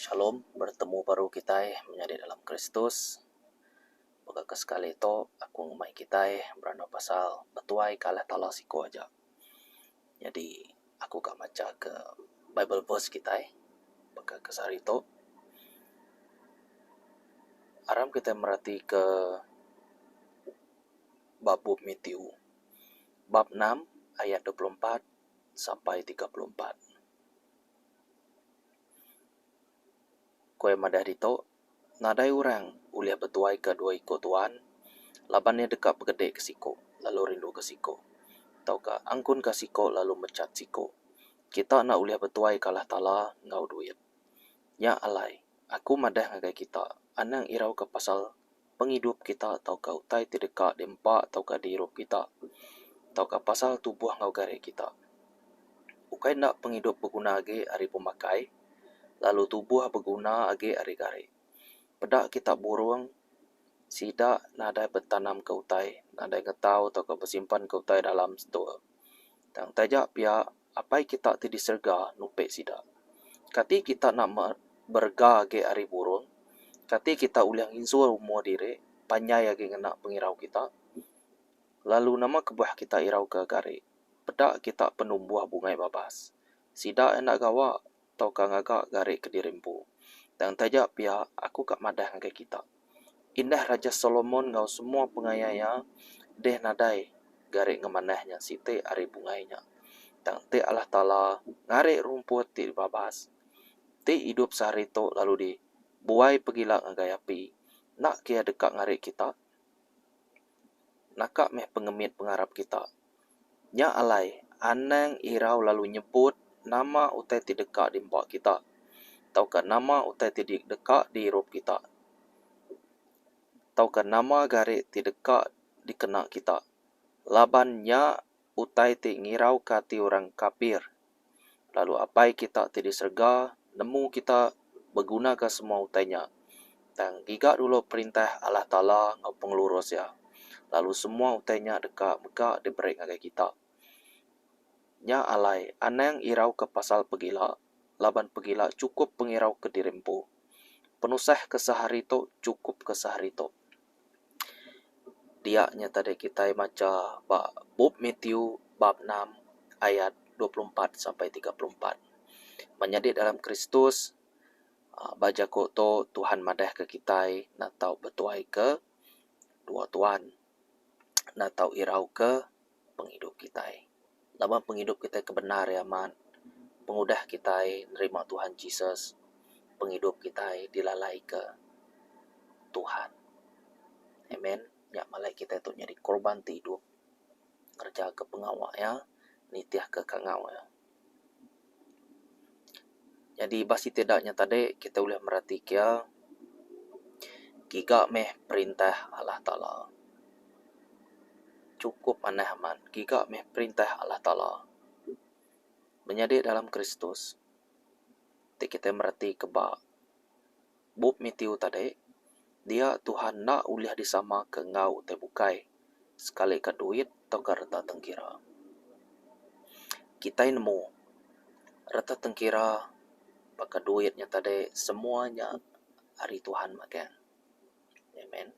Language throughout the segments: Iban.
Shalom, bertemu baru kitai menyadi dalam Kristus. Baka ke sekali tu aku enggau mai kitai berandau pasal betuai ke alah Talah siko aja. Nyadi aku ka macha ke Bible verse kitai baka ke sehari tu. Aram kitai mereti ke ba bup Matthew bab enam ayat dua puluh empat sampai tiga puluh empat. Ku iya madah ditu, nadai orang ulih betuaika dua iku tuan laban iya deka begedika siku lalu rinduka siku tauka angkunka siku lalu mechat siku. Kita enda ulih betuaika Allah Taala enggau duit. Nya alai aku madah ngagai kita anang irauka pasal pengidup kita tauka utai ti deka diempa tauka diirup kita, tauka pasal tubuh enggau gari kita. Ukai enda pengidup beguna agi ari pemakai, lalu tubuh beguna agi ari gari. Peda kita burung sida nadai betanamka utai, nadai ngetau tauka besimpanka utai dalam setua. Tang taja pia Apai kita ti di serega nupi sida. Kati kita nak berega agi ari burung? Kati kita ulih nginjur umur diri panjai agi ngena pengirau kita? Lalu nama kebuah kita irauka gari peda kita penumbuh bungai babas? Sida enda gawa. tauka ngaga gari kediri empu. Tang taja pia aku ka madah ngagai kita, indah Raja Solomon enggau semua pengaya iya deh nadai gari ngemanah nya siti ari bungai nya. Tang ti Allah Taala ngari rumput ti dibabas, ti idup sehari tu lalu di buai pegila ngagai api, enda ke iya deka ngari kita naka meh pengemit pengarap kita. Nya alai, anang irau lalu nyebut nama utai ti deka diempa kita, tauka nama utai ti deka diirup kita, tauka nama gari ti deka dikena kita, laban nya utai ti ngirauka ati orang kapir. lalu Apai kita ti di serega nemu kita begunaka semua utai nya. Tang giga dulu perintah Allah Taala enggau pengelurus Iya, lalu semua utai nya deka mega diberi ngagai kita. Nya alai, anang irauka pasal pegila, laban pegila chukup pengirauka diri empu. Penusah ke sehari tu chukupka sehari tu. dia nya tadi kitai macha ba bup Matthew bab enam ayat dua puluh empat sampai tiga puluh empat. Ban nyadi dalam Kristus aaa ba jaku tu Tuhan madahka kitai enda tau betuaika dua tuan, enda tau irauka. pengidup kitai. Laban pengidup kitai ke bendar ri amat, pengudah kitai nerima Tuhan Jesus, pengidup kitai dilalaika Tuhan. Amen. Nya malai kitai tu nyadi korban ti idup ngereja ke pengawa iya, nitihka kangau iya. Nyadi ba siti da nya tadi kita ulih mereti kia giga meh perintah Allah Taala chukup manah amat giga meh perintah Allah Taala. Menyadi dalam Kristus ti kita mereti ke ba. Bup Matthew tadi, dia Tuhan enda ulih disamaka enggau utai bukai, sekalika duit tauka reta tengkira. Kitai nemu, reta tengkira baka duit nya tadi semua nya ari Tuhan magang. Amen.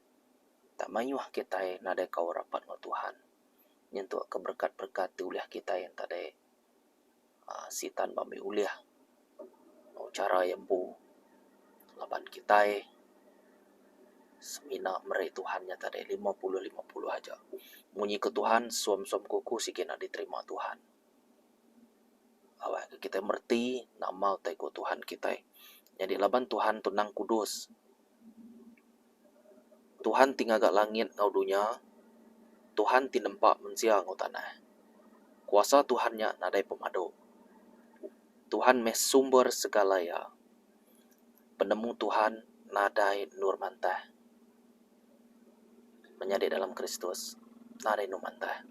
Enda mayuh kitai nadai kaul rapat enggau Tuhan, nyentuk keberekat-berekat ti ulih kitai yen tadi. aaa sitan ba meh ulih enggau chara iya empu laban kitai semina meri Tuhan nyata dei lima puluh lima puluh aja. Mung nyiku Tuhan sum sum ku ku sigi enda diterima Tuhan. Awak kitai mereti nama utai ku Tuhan kitai. Nyadi laban Tuhan tu nang kudus. Tuhan ti ngaga langit enggau dunya, Tuhan ti nempa mensia enggau tanah. Kuasa Tuhan nya nadai pemadu. Tuhan meh sumber segala iya. Penemu Tuhan nadai endur mantah. menyadi dalam Kristus nadai enu mantah.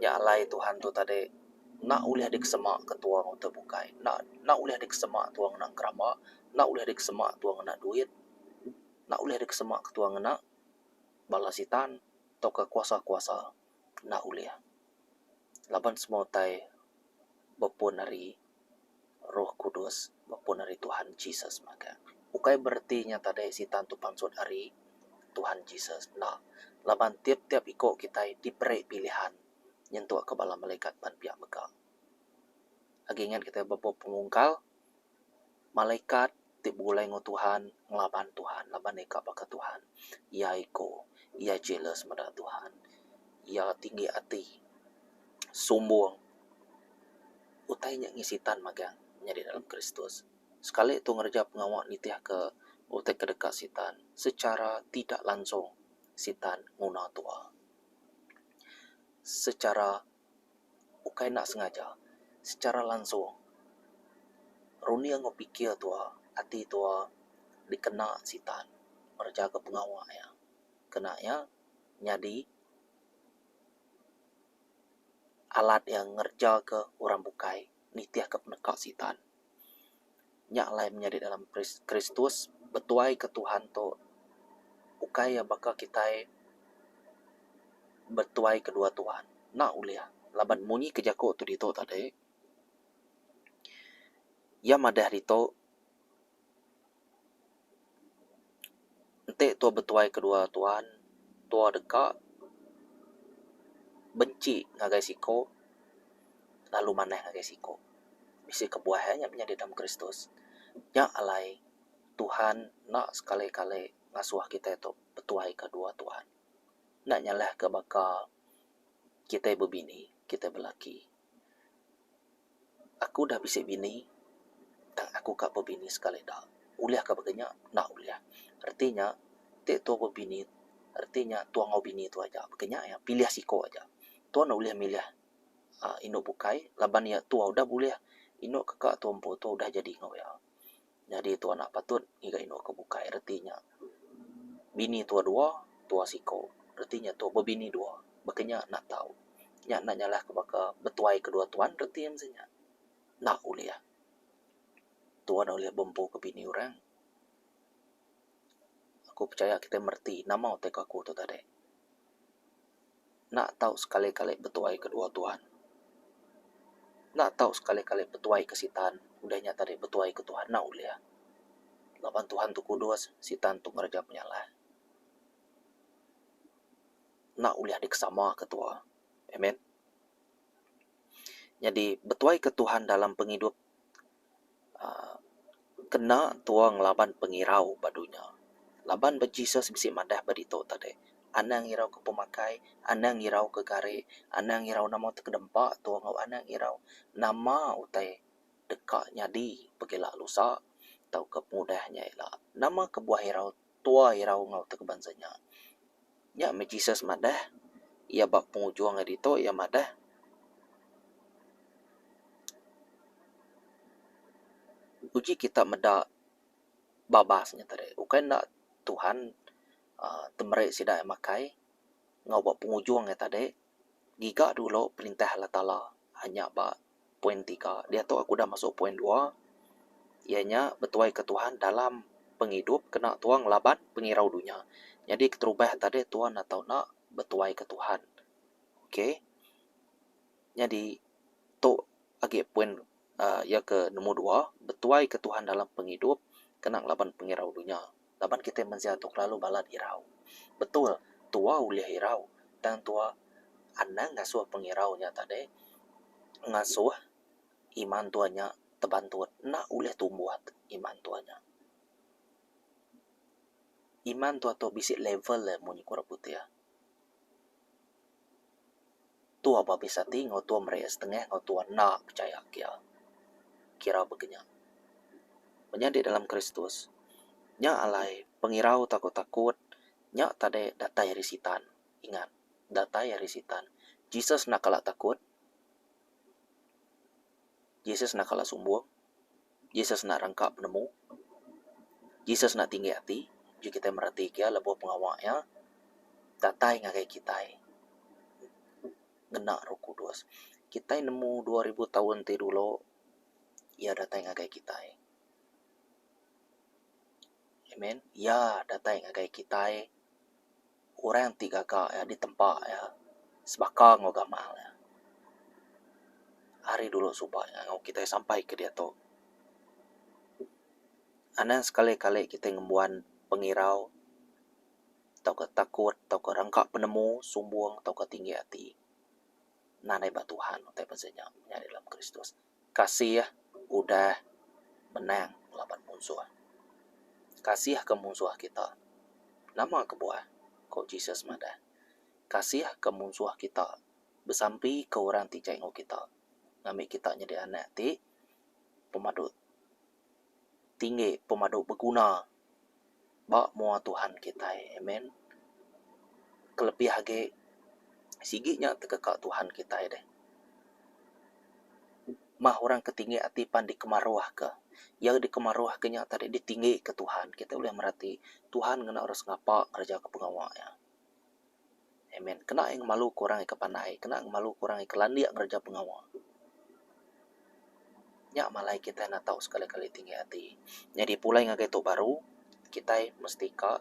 Nya alai Tuhan tu tadi enda ulih dikesema ke tua enggau te bukai, enda enda ulih dikesema tua ngena keramba, enda ulih dikesema tua ngena duit, enda ulih dikesema ke tua ngena bala sitan tauka kuasa-kuasa, enda ulih. Laban semua utai. bepun ari Roh Kudus, bepun ari Tuhan Jesus mega. Ukai bereti nya tadi Sitan tu pansut ari Tuhan Jesus, enda. Laban tiap-tiap iku kitai diberi pilihan nyentukka bala melekat pan pia mega. Agi ingat kitai bebau pemungkal malaikat ti begulai enggau Tuhan ngelaban Tuhan laban iya ka baka Tuhan. Iya ego, iya jealous meda Tuhan. Iya tinggi ati, sumbung. Utai nya ngi Sitan magang nyadi dalam Kristus. Sekali tu ngereja pengawa nitihka utai ke deka Sitan secara tidak langsung Sitan nguna tua. Secara ukai enda sengaja, secara langsung runding enggau pikir tua, ati tua dikena Sitan ngereja ke pengawa iya. Kena iya nyadi alat iya ngereja ke orang bukai. nitihka peneka Sitan. Nya alai menyadi dalam Kristus betuaika Tuhan tu ukai iya baka kitai betuai kedua Tuhan. Enda ulih laban munyi ke jaku tu ditu tadi iya madah ditu. Enti tua betuai kedua tuan, tua deka benci ngagai siko lalu manah ngagai siko. Bisi kebuah eh nya menyadi dalam Kristus. Nya alai Tuhan enda sekali-kali ngasuh kitai tu betuai kedua tuan. Enda nyalah ke baka kitai bebini, kitai belaki. Aku udah bisi bini tang aku ka bebini sekali da. Ulih ka baka nya? Enda ulih. Reti nya ti tuo bebini reti nya tuo enggau bini tuo aja baka nya iya pilih siko aja. Tuo enda ulih milih aaa inu bukai laban iya tuo udah bulih inu kaka tuo empu tuo udah jadi enggau iya. Nyadi tua enda patut ngiga indu ke bukai reti nya bini tua dua tua siko reti nya tua bebini dua baka nya enda tau. Nya enda nyalahka baka betuai ke dua tuan reti mung sii nya. Enda ulih. Tuan ulih bempu ke bini orang. Aku pechaya kitai mereti nama utai ke aku tu tadi. Enda tau sekali-kali betuai ke dua Tuhan. Enda tau sekali-kali betuai ke Sitan. Udah nya tadi betuai ke Tuhan enda ulih. Laban Tuhan tu kudus, Sitan tu ngereja penyalah. Enda ulih dikesamaka tua. Amen. Nyadi betuai ke Tuhan dalam pengidup. kena tua ngelaban pengirau ba dunya. Laban ba Jesus bisi madah ba ditu tadi, anang irau ke pemakai, anang irau ke gari, anang irau nama ti kedempa tua enggau anang irau nama utai deka nyadi pekila lusa tauka pengudah nya ila. Nama kebuah irau. tua irau enggau tau ke bansa nya. Nya meh Jesus madah iya ba pengujung ari ditu iya madah uji kita meda babas nya tadi ukai enda Tuhan uhh temeri sida iya makai enggau ba pengujung iya tadi ngiga dulu perintah Allah Taala hanya ba poin tiga diatu aku udah masuk poin dua iya nya betuai ke Tuhan dalam pengidup kena tua ngelaban pengirau dunya nyadi keterubah tadi tua enda tau nak betuai ke Tuhan ok nyadi tu agi poin um iya ke nombor dua betuai ke Tuhan dalam pengidup kena ngelaban pengirau dunya. laban kitai mensia tu kelalu balat irau. Betul, tua ulih irau tang tua anang ngasuh pengirau nya tadi ngasuh iman tua nya tebantut enda ulih tumbuh iman tua nya. Iman tua tu bisi level iya mun iku orang putih. Tua babis ati enggau tua meri iya setengah enggau tua enda pechaya ke iya. Kira baka nya. Menyadi dalam Kristus, nya alai pengirau tauka takut nya tadi datai ari Sitan. Ingat, datai ari Sitan. Jesus enda kala takut. Jesus enda kala sumbung. Jesus enda rangka penemu. Jesus enda tinggi ati. Uji kitai meratika iya lebuh pengawa iya datai ngagai kitai ngena Roh Kudus. Kitai nemu dua ribu taun ti dulu iya datai ngagai kitai. Amen. Iya datai ngagai kitai. orang ti gaga iya ditempa iya sebaka enggau gamal iya ari dulu suba iya enggau kitai sampai ke diatu. Anang sekali kali kitai ngembuan pengirau tauka takut tauka rangka penemu sumbung tauka tinggi ati. Nan ai ba Tuhan utai pazia nya menyadi dalam Kristus. Kasih udah menang laban munsuh. Kasihka munsuh kita. Nama kebuah? ku Jesus madah. Kasihka munsuh kita besampika orang ti jai enggau kita ngambi kita nyadi anak ti pemadu. tinggi pemadu beguna ba mua Tuhan kitai. Amen. Kelebih agi sigi nya tekaka Tuhan kitai deh. Mah orang ke tinggi ati pan dikemaruhka. Iya ke dikemaruhka nya tadi ditinggika Tuhan. Kitai ulih merati Tuhan ngena orang sengapa ngereja pengawa iya. Amen. Kena ai ngemaluka orang ika pandai, kena ngemaluka orang ika landik ngereja pengawa. Nya malai kitai enda tau sekali kali tinggi ati. Nyadi pulai ngagai tu baru, kitai mesti ka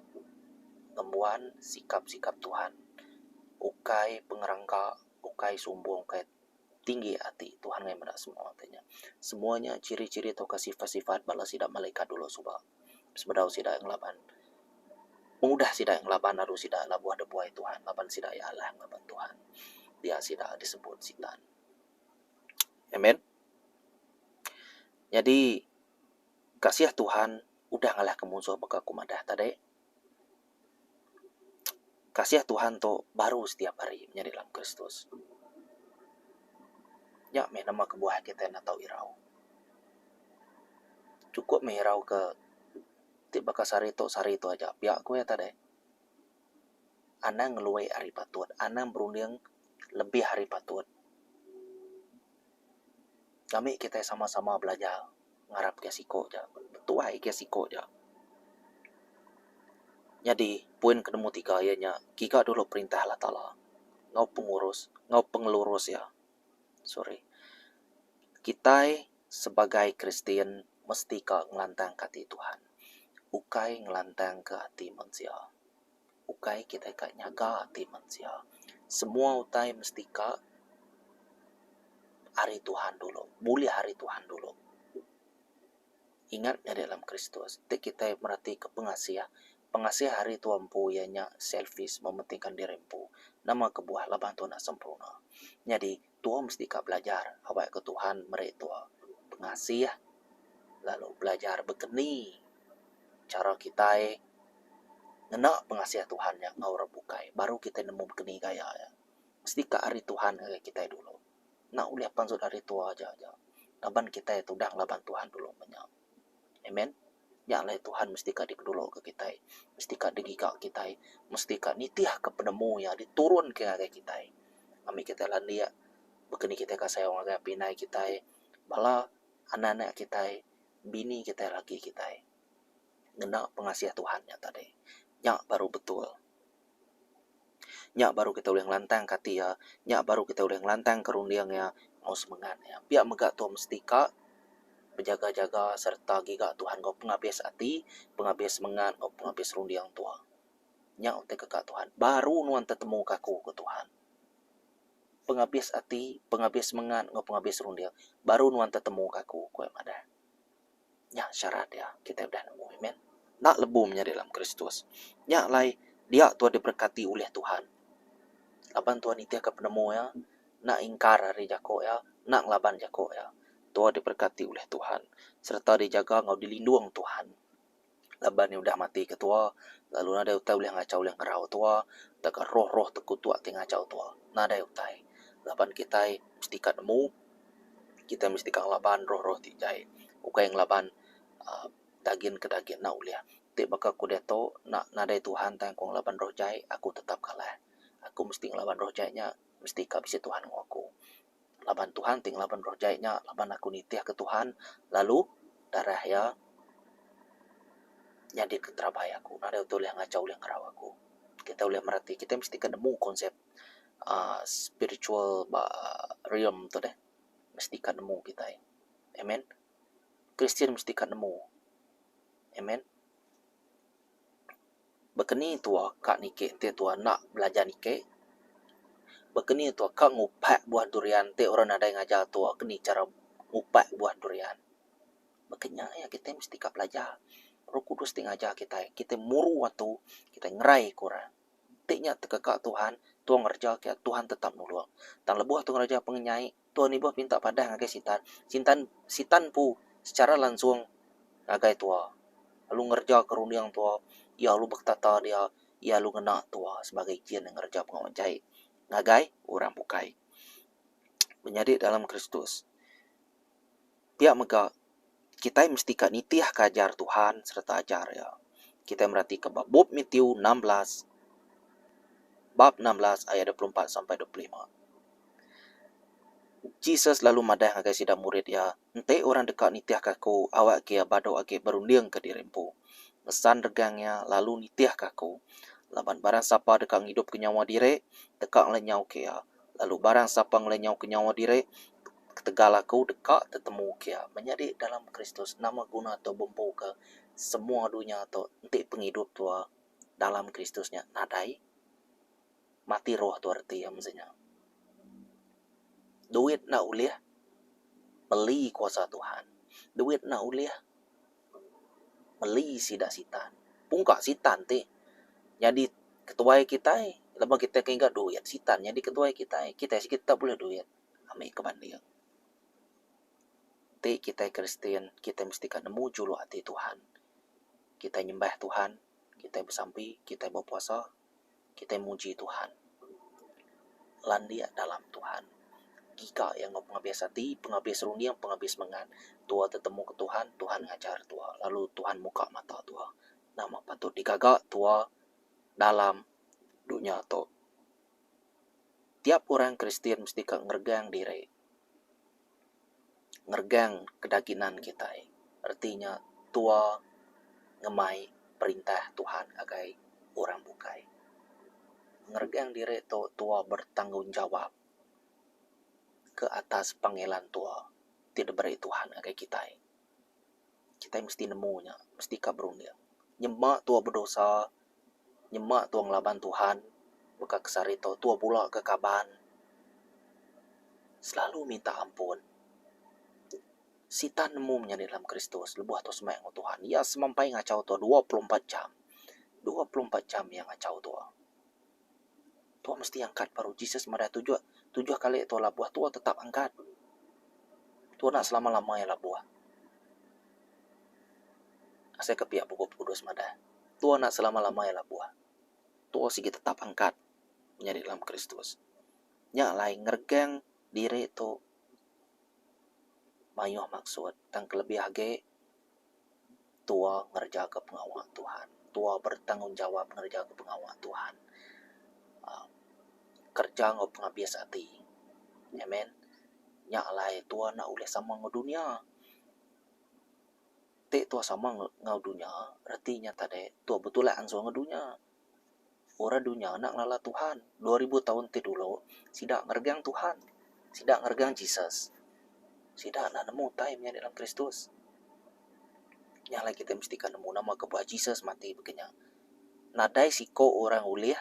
ngembuan sikap sikap Tuhan. Ukai pengerangka, ukai sumbung, ukai tinggi ati. Tuhan meda semua. Semua nya chiri chiri tauka sifat sifat bala sida malaikat dulu suba. sebedau sida ngelaban pengudah sida ngelaban aru sida labuh debuai Tuhan laban sida iya alah ngaban Tuhan dia sida disebut sitan. Amen. Nyadi kasih Tuhan udah ngalahka munsuh baka aku madah tadi. kasih Tuhan tu baru setiap hari menyadi dalam Kristus. Nya meh nama kebuah kitai enda tau irau. Chukup meh irau ke ti baka sehari tu sehari tu aja pia ku iya tadi. Anang ngelui ari patut, anang berunding lebih ari patut. Kami kitai sama-sama belajar ngarap iya siko ja betuai iya siko ja. Nyadi poin ke nombor tiga iya nya kiga dulu perintah Allah Taala enggau pengurus enggau pengelurus iya. Sorry. Kitai sebagai Kristian mesti ka ngelantangka ati Tuhan ukai ngelantangka ati mensia. ukai kitai ka nyaga ati mensia. Semua utai mesti ka ari Tuhan dulu, bulih ari Tuhan dulu. Ingat nyadi dalam Kristus, ti kitai meratika pengasih, pengasih ari tua empu iya nya selfish, mementingka diri empu. Nama kebuah laban tu enda sempurna. Nyadi. Tua mesti ka belajar awak ke Tuhan meri tua pengasih lalu belajar bekeni chara kitai ngena pengasih Tuhan nya enggau orang bukai baru kitai nemu bekeni gaya iya. Mesti ka ari Tuhan ngagai kitai dulu. Enda ulih pan sut ari tua aja aja laban kitai tu udah ngelaban Tuhan dulu menya. Amen. Nya alai Tuhan mesti ka dikeduluka kitai, mesti ka digiga kitai, mesti ka nitihka penemu iya diturunka ngagai kitai. Ami kitai landik baka ni kitai ka sayau ngagai api indai kitai, bala anak anak kitai, bini kitai, laki kitai ngena pengasih Tuhan nya tadi. Nya baru betul. Nya baru kitai ulih ngelantangka ati iya, nya baru kitai ulih ngelantangka runding iya enggau semengat iya. Pia mega tu mesti ka bejaga-jaga sereta giga Tuhan enggau pengabis ati, pengabis semengat enggau pengabis runding tuak. Nya utai keka Tuhan, baru nuan tetemuka aku, ku Tuhan. Pengabis ati, pengabis semengat enggau pengabis runding baru nuan tetemuka aku, ku iya madah. Nya syarat dia kitai udah nemu. Amen. Enda lebu menyadi dalam Kristus. Nya alai dia tuan diberkati ulih Tuhan. Laban tuan nitihka penemu iya, enda ingkar ari jaku iya, enda ngelaban jaku iya. Tuan diberkati ulih Tuhan sereta dijaga enggau dilindung Tuhan. laban iya udah mati ke tua lalu nadai utai ulih ngachau ulih ngerau tua tauka roh-roh tekuto ti ngachau tua nadai utai laban kitai mesti ka nemu kitai mesti ka ngelaban roh-roh ti jai ukai ngelaban aaa dagin ke dagin enda ulih ti baka ku diatu nak nadai Tuhan tang ku ngelaban roh jai aku tetap kalah aku mesti ngelaban roh jai nya mesti ka bisi Tuhan enggau aku. laban Tuhan ti ngelaban roh jai nya laban aku nitih ke Tuhan lalu darah iya nyadi ke terabai aku nadai utai ulih ngachau ulih ngerau aku kita ulih mereti kita mesti ke nemu konsep uhh spiritual ba realm tu deh mesti ka nemu kitai amen Kristian mesti ka nemu amen. Bekeni tua ka niki ti tua enda belajar niki? Bekeni tua ka ngupak buah durian ti orang nadai ngajar tua ke ni chara ngupak buah durian? Baka nya iya kitai mesti ka belajar. Roh Kudus ti ngajar kitai, kitai muru atu, kitai ngerai ke orang. Ti nya tekaka Tuhan, tua ngereja ke, Tuhan tetap nulung. Tang lebuh atu ngereja pengenyai, Tuan Ibuh pinta padah ngagai Sitan. Sintan Sitan empu sechara langsung ngagai Tua. Lalu ngerejaka runding Tua. Iya lalu beketata dia. Iya lalu ngena Tua sebagai jin ngereja pengawa jahit ngagai orang bukai. Menyadi dalam Kristus. Pia mega, kitai mesti ka nitihka ajar Tuhan sereta ajar Iya. Kitai meratika ba bup Matiu enam belas, bab enam belas ayat dua puluh empat sampai dua puluh lima. Jesus lalu madah ngagai sida murid Iya, Enti orang deka nitihka Aku, awakka iya badu agi berundingka diri empu. Ngesan regang iya, lalu nitihka Aku. Laban barang sapa deka ngidupka nyawa diri, deka ngelenyauka iya, Lalu barang sapa ngelenyauka nyawa diri, ketegal aku deka tetemu kia. Menyadi dalam Kristus, nama guna tu bempuka semua dunya tu enti pengidup tu dalam Kristus nya nadai? Mati roh tu reti iya mesti nya. Duit enda ulih beli kuasa Tuhan. Duit enda ulih. meli sida sitan. Pungka sitan ti nyadi ketuai kitai laban kitai ke enggau duit sitan nyadi ketuai kitai. Kitai sik tau buleh duit ami ke banding. Ti kitai Kristian kitai mesti ka nemu juluk ati Tuhan. Kitai nyembah Tuhan, kitai besampi, kitai bepuasa. Kitai muji Tuhan. Landik dalam Tuhan. Giga iya enggau pengabis ati, pengabis runding, pengabis mengat. Tua tetemuka Tuhan, Tuhan ngajar tua, lalu Tuhan muka mata tua. Nama patut digaga tua dalam dunya tu? Tiap orang Kristian mesti ka ngeregang diri. ngeregang kedaginan kitai reti nya tua ngemai perintah Tuhan ngagai orang bukai. Ngeregang diri tu tua bertanggungjawab ke atas pengelan tua ti diberi Tuhan ngagai kitai. Kitai mesti nemu nya, mesti ka berunding. Nyema tua bedosa, nyema tua ngelaban Tuhan, baka ke sehari tu tua bula ke kaban selalu minta ampun. Sitan nemu menyadi dalam Kristus lebuh tua semaya enggau Tuhan. Iya semampai ngachau tua dua puluh empat jam. Dua puluh empat jam iya ngachau tua. Tua mesti angkat baru Jesus madah tujuh tujuh kali tua labuh tua tetap angkat. Tua enda selama lama iya labuh. Asai ke pia bup kudus madah tua enda selama lama iya labuh. Tua sigi tetap angkat nyadi dalam Kristus. Nya alai ngeregang diri tu mayuh maksud tang kelebih agi tua ngerejaga pengawa Tuhan, tua bertanggungjawab ngerejaga pengawa Tuhan. uhh Kereja enggau pengabis ati. Amen. Nya alai tua enda ulih sama enggau dunya. Ti tua sama enggau dunya reti nya tadi tua betulak ansun enggau dunya. Orang dunya enda ngelala Tuhan. Dua ribu taun ti dulu, sida ngeregang Tuhan. Sida ngeregang Jesus. Sida enda nemu utai maya di dalam Kristus. Nya alai kitai mesti ka nemu nama kebuah Jesus mati baka nya. Nadai siko orang ulih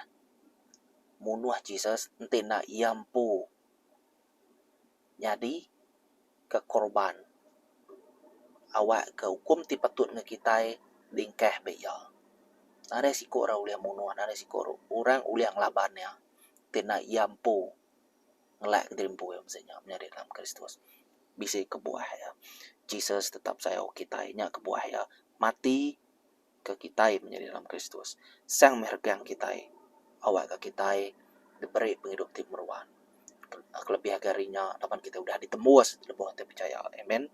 munuh Jesus enti enda iya empu. nyadi ke korban awak ke ukum ti patut nge kitai bingkah be iya. Nadai siko orang ulih munuh nadai siko orang ulih ngelaban iya ti enda iya empu ngelak ke diri empu iya mesti nya menyadi dalam Kristus. Bisi kebuah iya. Jesus tetap sayau kitai nya kebuah iya mati. ke kitai menyadi dalam Kristus, Sang meh regang kitai awakka kitai diberi pengidup ti meruan, kelebih agi ari nya laban kitai udah ditembus lebuh kitai pechaya. Amen.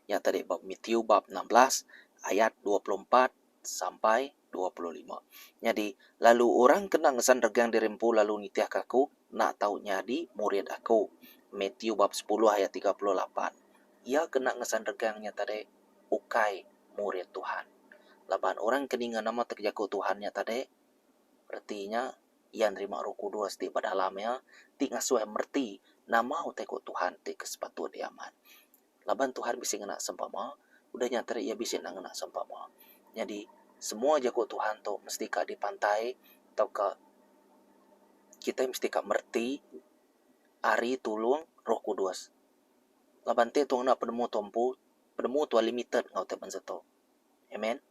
Nya tadi Matiu bab enam belas ayat dua puluh empat sampai. dua puluh lima. Nyadi, lalu orang kena ngesan regang diri empu lalu nitihka Aku, enda tau nyadi murid Aku. Matiu bab sepuluh ayat tiga puluh lapan. Iya ke enda ngesan regang nya tadi ukai murid Tuhan. Laban orang ke ninga nama teka jaku Tuhan nya tadi, reti nya iya nerima Roh Kudus ti ba dalam iya ti ngasuh iya mereti nama utai ku Tuhan ti ke sepatut diamat. Laban Tuhan bisi ngena sempama, udah nya teri iya bisi enda ngena sempama. Nyadi, semua jaku Tuhan tu mesti ka dipantai tauka kitai mesti ka mereti ari tulung Roh Kudus. Laban enti tu ngena penemu tu empu, penemu tu limited enggau utai bansa tu. Amen.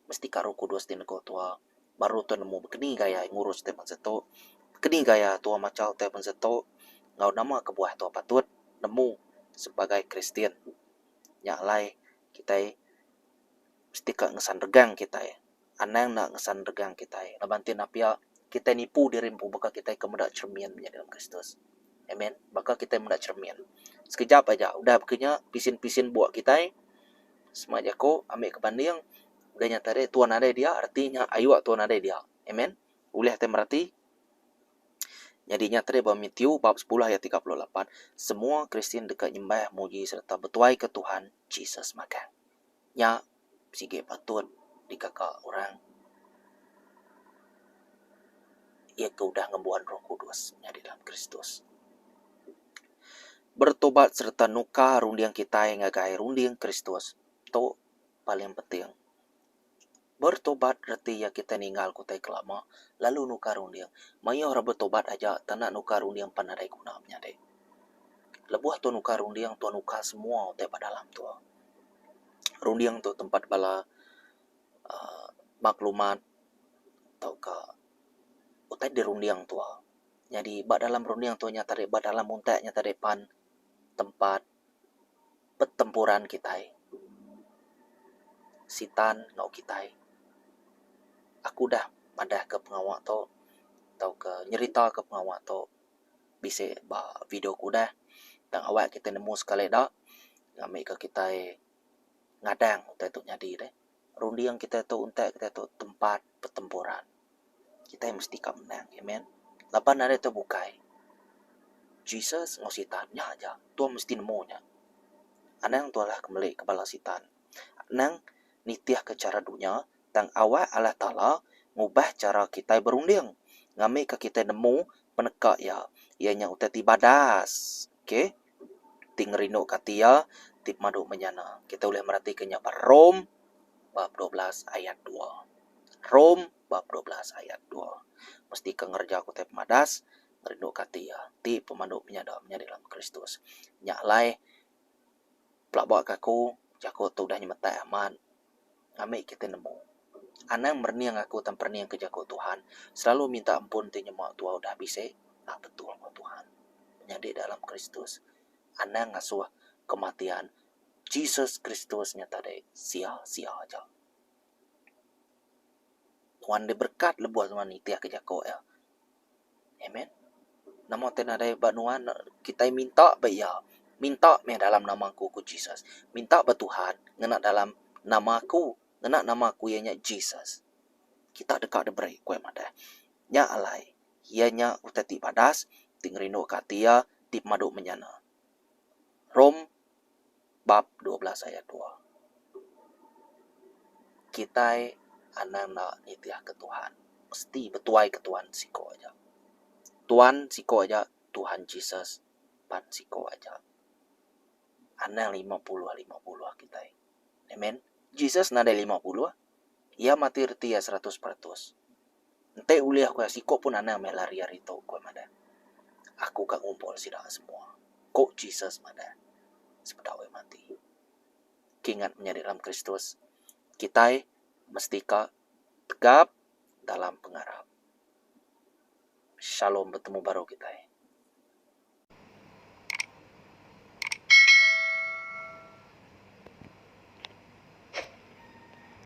mesti ka roh kudus ti nego tua baru tua nemu bekeni gaya ngurus tua bangsa tok bekeni gaya tua machau tua bangsa tok enggau nama kebuah tua patut nemu sebagai kristian nya alai kitai mesti ka ngesan regang kitai anang enda ngesan regang kitai laban ti enda pia kitai nipu diri empu baka kitai ke meda cermin menya dalam kristus amen baka kitai meda cermin sekejap aja udah baka nya pisin pisin buk kitai Sma jako ambi ke banding udah nyata deh tuan nadai dia reti nya ayuk tuan nadai dia amen ulih tai mereti nyadi nya tadi ba Matthew bab sepulah ayat tiga puluh lapan semua Kristian deka nyembah muji sereta betuai ke Tuhan Jesus magang nya sigi patut dikaka orang iya ke udah ngembuan roh kudus nyadi dalam Kristus. Beretobat sereta nukar runding kitai ngagai runding Kristus tu paling penting. Beretobat reti iya kitai ningal ke utai ke lama lalu nukar runding. Mayuh orang beretobat aja tak nak nukar runding pan nadai guna menyadi. Lebuh tau nukar runding tau nukar semua utai ba dalam tu. Runding tu tempat bala uhh maklumat tauka utai dirunding tu. Nyadi ba dalam runding tu nya tadi ba dalam muntak nya tadi pan tempat pertempuran kitai. Sitan enggau kitai. Aku udah madahka pengawa tu tauka nyeritaka pengawa tu bisi ba video ku udah tang awak kitai nemu sekali da ngambika kitai ngadang utai tu nyadi deh. runding kitai tu utai kitai tu tempat pertempuran. Kitai mesti ka menang. Amen. Laban ari tu bukai Jesus enggau sitan nya aja. Tu mesti nemu nya. Anang tu alah ke meli ke bala sitan. Anang nitih ke chara dunya tang awak Allah Taala ngubah chara kitai berunding ngambika kitai nemu peneka iya iya nya utai ti badas. Okay. ti ngerinduka ati iya ti pemadu menyana. Kita ulih meratika nya ba Rom bab dua belas ayat dua. Rom bab dua belas ayat dua. Mesti ke ngereja ke utai pemadas, ngerinduka ati iya ti pemadu menyana menyadi dalam Kristus. Nya alai pelabaka aku, jaku tu udah nyemetek amat. Amik kitai nemu. Anang merening aku tang perening ke jaku Tuhan selalu minta ampun ti nyema tua udah bisi. Nya betul ko Tuhan. Nyadi dalam Kristus, Anang ngasuh kematian Jesus Kristus nya tadi sia-sia aja. Nuan diberkat lebuh nuan nitihka jaku iya. Amen. Nama ti nadai ba nuan kitai minta ba iya. Minta meh dalam nama aku, ku Jesus. Minta ba Tuhan ngena dalam nama aku. Ngena nama aku iya nya Jesus. Kita deka diberi, ku iya madah. Nya alai iya nya utai ti badas, ti ngerinduka ati iya, ti pemadu menyana. Rom bab dua belas ayat dua. Kitai anang enda nitihka Tuhan mesti betuaika Tuhan siko aja. Tuhan siko aja Tuhan Jesus pan siko aja anang lima puluh lima puluh kitai. Amen. Jesus nadai lima puluh iya mati reti iya seratus peratus. Enti ulih ku iya siku pun anang meh lari ari tu, ku iya madah. Aku ka ngumpul sida semua, ku Jesus madah sebedau iya mati. Kingat menyadi dalam Kristus, kitai mesti ka tegap dalam pengarap. Shalom betemu baru kitai.